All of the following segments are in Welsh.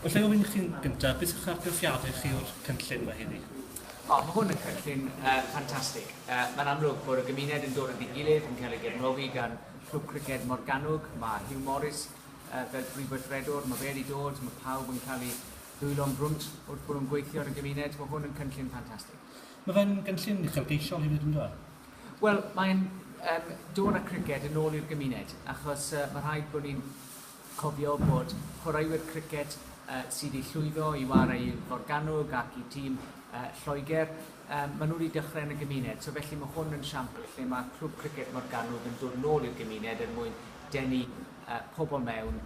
Alla i ofyn i chdi'n gyntaf, beth yw'ch argraffiadau chi o'r cynllun yma heddi? O, mae hwn yn cynllun uh, ffantastig. Uh, Mae'n amlwg bod y gymuned yn dod at ei gilydd, yn cael ei gefnogi gan Clwb Criced Morgannwg. Mae Hugh Morris uh, fel prif weithredwr, mae fe wedi dod, mae pawb yn cael ei ddwylo'n brwnt wrth bod nhw'n gweithio yn y gymuned. Mae hwn yn cynllun ffantastig. Mae fe'n gynllun uchelgeisiol hefyd yn dweud? Wel, mae'n um, dod â criced yn ôl i'r gymuned, achos uh, mae rhaid bod ni'n Cofio bod chwaraewyr criced sydd wedi llwyddo i ware i Forgannwg ac i tîm Lloegr, maen nhw wedi dechrau yn y gymuned, so felly mae hwn yn siampl lle mae Clwb Criced Morgannwg yn dod nôl i'r gymuned er mwyn denu pobl mewn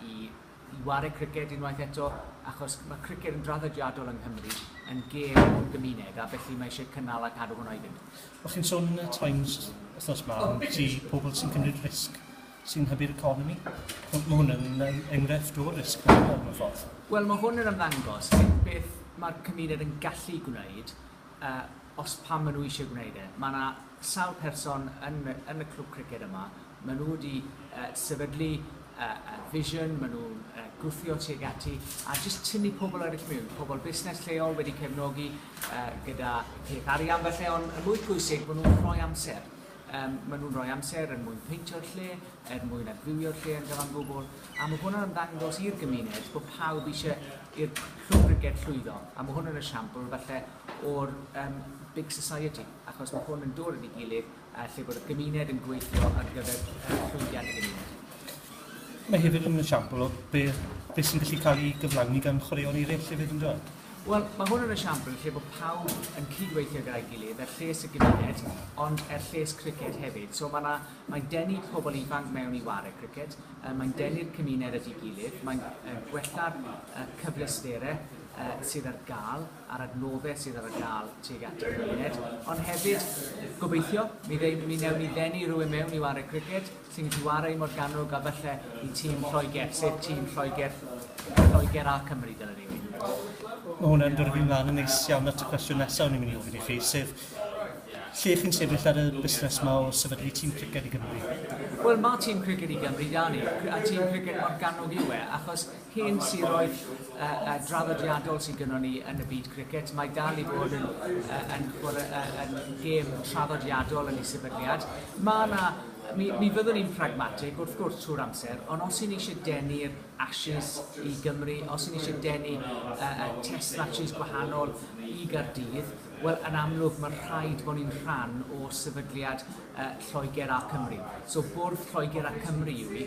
i i ware criced unwaith eto, achos mae criced yn draddodiadol yng Nghymru yn gêm o'r gymuned a felly mae eisiau cynnal a cadw hwnna i fynd. O'ch chi'n sôn yn y Times wythnos 'ma ambiti pobl sy'n cymryd risg sy'n hybu'r economi. Mae hwn yn enghraifft o risg mewn ffordd. Wel, mae hwn yn ymddangos beth mae'r cymuned yn gallu gwneud uh, os pan maen nhw eisiau gwneud e. Mae yna sawl person yn, yn y clwb criced yma, maen nhw wedi uh, sefydlu uh, uh, vision, maen nhw'n uh, gwthio tuag ati, a jyst tynnu pobl eraill mewn, pobl busnes lleol wedi cefnogi uh, gyda peth arian, felly ond y mwy pwysig, maen nhw'n rhoi amser. Yym, maen nhw'n rhoi amser er mwyn peintio'r lle, er mwyn adfywio'r lle yn gyfan gwbl, a mae hwnna'n ymddangos i'r gymuned bod pawb eisiau i'r Clwb Briged llwyddo, a mae hwn yn esiampl falle o'r um, big society, achos mae hwn yn dod yn ei gilydd uh, lle bod y gymuned yn gweithio ar gyfer uh, llwyddiant y gymuned. Mae hefyd yn esiampl o beth, beth sy'n gallu cael ei gyflawni gan chwaraeon eraill hefyd yn dod. Wel, mae hwn yn esiampl lle bod pawb yn cydweithio gyda'i gilydd, er lles y gymuned, ond er lles criced hefyd. So mae 'na, mae'n denu pobl ifanc mewn i ware criced, uh, mae'n denu'r cymuned at ei gilydd, mae'n uh, gwella'r uh, cyfleusterau uh, sydd ar gael a'r adnoddau sydd ar gael tuag at y cymuned, ond hefyd gobeithio mi, ddeun, mi newn ni ddenu rhywun mewn i ware criced Tîm Chwarae Morgannwg a falle i tîm Lloegr, sef tîm Lloegr, Lloegr a Cymru dylen ni fynd. Mae hwnna'n dod fi'n mlaen yn neis iawn at y cwestiwn nesaf o'n i'n mynd i ofyn i chi, sef lle chi'n sefyll ar y busnes yma o sefydlu tîm criced i Gymru? Wel, mae tîm criced i Gymru da ni, a tîm criced Morgannwg yw e, achos Hen siroedd draddodiadol sydd gynnon ni yn y byd cricet. Mae dal i fod yn, yn, yn, yn gêm traddodiadol yn ei sefydliad. Mae yna mi, mi fyddwn ni'n pragmatig wrth gwrs trwy'r amser, ond os y'n ni eisiau denu'r Ashes i Gymru, os y'n ni eisiau denu uh, uh, test matches gwahanol i Gardydd, wel yn amlwg mae rhaid bod ni'n rhan o sefydliad uh, Lloegr a Cymru. So bwrdd Lloegr a Cymru yw i,